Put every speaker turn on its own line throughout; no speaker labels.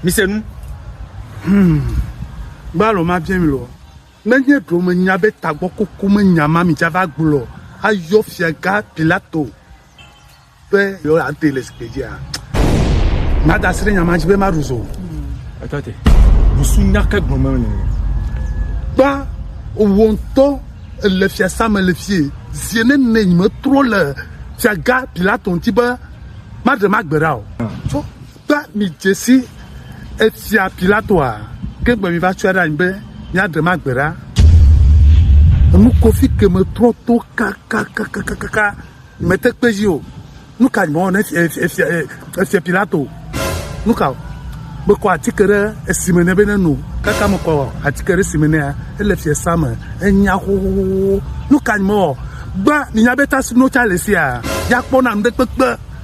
Mise nu. Hmm.
Gbalo ma bia mi lo. Nenye ɖo me nya be tagbɔ koko me nya ma mi dza va gblɔ ayɔ fia ga Pilato be yo ate le sikpe dzi a. Ma da sre nya ma dzi be ma ruzo. Eto te.
Busu nya ke gblɔ me ne.
Ba owonto le fia sa me le fie. Zie ne ne me tro le fia ga Pilato nti be ma de ma gbera o. Ah. Kpla mi dze si efia Pilatoa ke gbe mi va tsɔe ɖe anyi be mia ɖem agbe ɖa. Enu kofi ke me trɔ to kakakakakaka me te kpe dzi o. Nu ka nyimɔ ne efia efia Pilato nu ka o. Me kɔ atike ɖe esi me ne be ne no kaka me kɔ atike ɖe esi me nea ele fia sa me enya xoxoxo nu ka nyimɔ gba mi nya be ta si no tsa le sia ya kpɔ na nu ɖe kpekpe.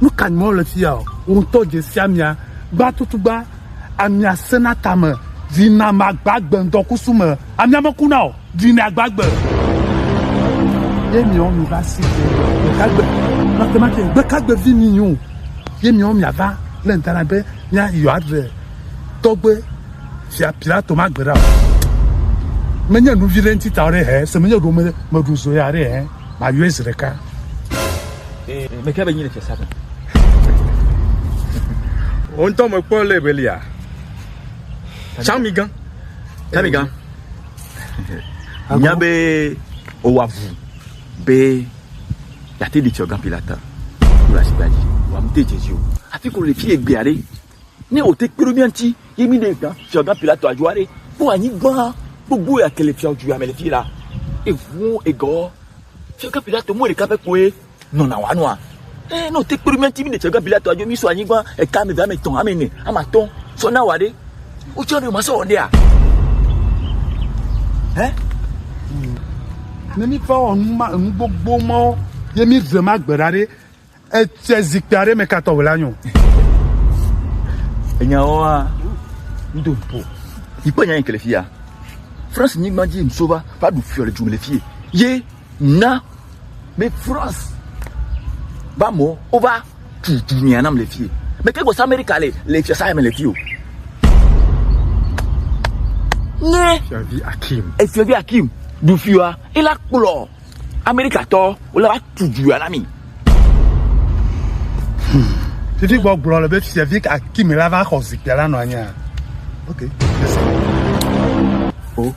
Nu ka nyim wole fi ya o? Wò ŋutɔ dze si amia. Gbã tutugba, amia sena tame. Vinye magba agbe ŋdɔkusu me. Amia mekuna o. Vinye agba agbe. Ye miawo miva si dze gbekagbe. Mate mate gbekagbe vi mi nyo. Ye miawo miava le ŋdana be mia yɔ aɖe tɔgbe fia Pilato magbe ɖa o. Menye nu vi ɖe ŋuti ta o ɖe hɛ. Se menye ɖo me meɖu zoya ɖe hɛ. Mayɔe zi ɖeka.
Ee, meke be nyi le tsesa me. Wo ŋutɔ mekpɔ le belia. Tsami gã. Tsami gã. Nya be owa vu be yate ɖe tsɔ gã pilata. Wòle asigba dzi. Wòamte dze dzi o. Afi ko le fi egbea ɖe. Ne wòte kpe ɖe mía ŋuti ye míɖe gã fiagã Pilato adzɔ aɖe kpɔ anyigba gbogbo ya ke le fiaduya me le fi la, eŋu egɔ fiagã Pilato mɔ ɖeka pɛ koe nɔna wòanɔ nua. Eye ne wòte kpe ɖe mía ŋuti míɖe fiagã Pilato adzɔ mísɔ anyigba eka ame eve, ame etɔ̃, ame ene, ame atɔ̃ sɔ na wò aɖe, wotsɔ ne masɔ wɔ ɖea? Hɛ?
Ne míva wɔ nu ma enu gbogbo mawo ye míve ma gbe ɖa ɖe, Etsɛ zikpui aɖe me katɔ wòle anyo.
Enyawoa, ŋdo ŋpo. Yikpɔ nya yike le fia. France nyigba dzi ŋso va va ɖu fiɔ le dzu le fie. Ye na be France va mɔ wova tu dunia nam le fie. Mete gbɔ sa Amerika le le fiɔ sa me le fie o. Nye. Fiɔvi Akim. Efiɔvi Akim ɖu fiɔa ela kplɔ. Amerikatɔ wole va tu dua na mi.
Titi gbɔ gblɔ le be fia vi Akimi la va xɔ zikpia la nɔ anyi. Ok.
O.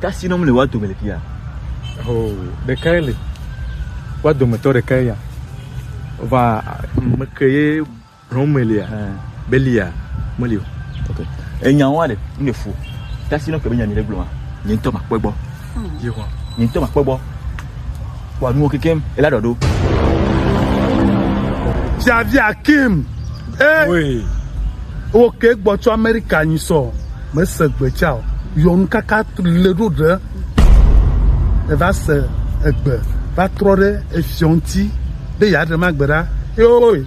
Kasi nom le wa dome le fia. O,
ɖekae le. Wa dometɔ ɖekae ya. Va meke ye Homelia, Belia, meli o. Ok.
Enya wa ɖe, mi le fu. Tasi no ke be nya mi le gblɔ ma. Nye ŋutɔ ma kpɔe gbɔ. Yehowa. Nye ŋutɔ ma kpɔe gbɔ. Wa nuwo kekem, ela ɖɔ ɖo.
Javi Akim. Eh.
Oi. Wo
ke gbɔ tso Amerika nyi sɔ. Me se gbe tsa o. Yɔnu kaka le ɖo ɖe. Eva se egbe va trɔ ɖe efiɔ ŋuti be ya ɖe ma gbe ɖa. Oi.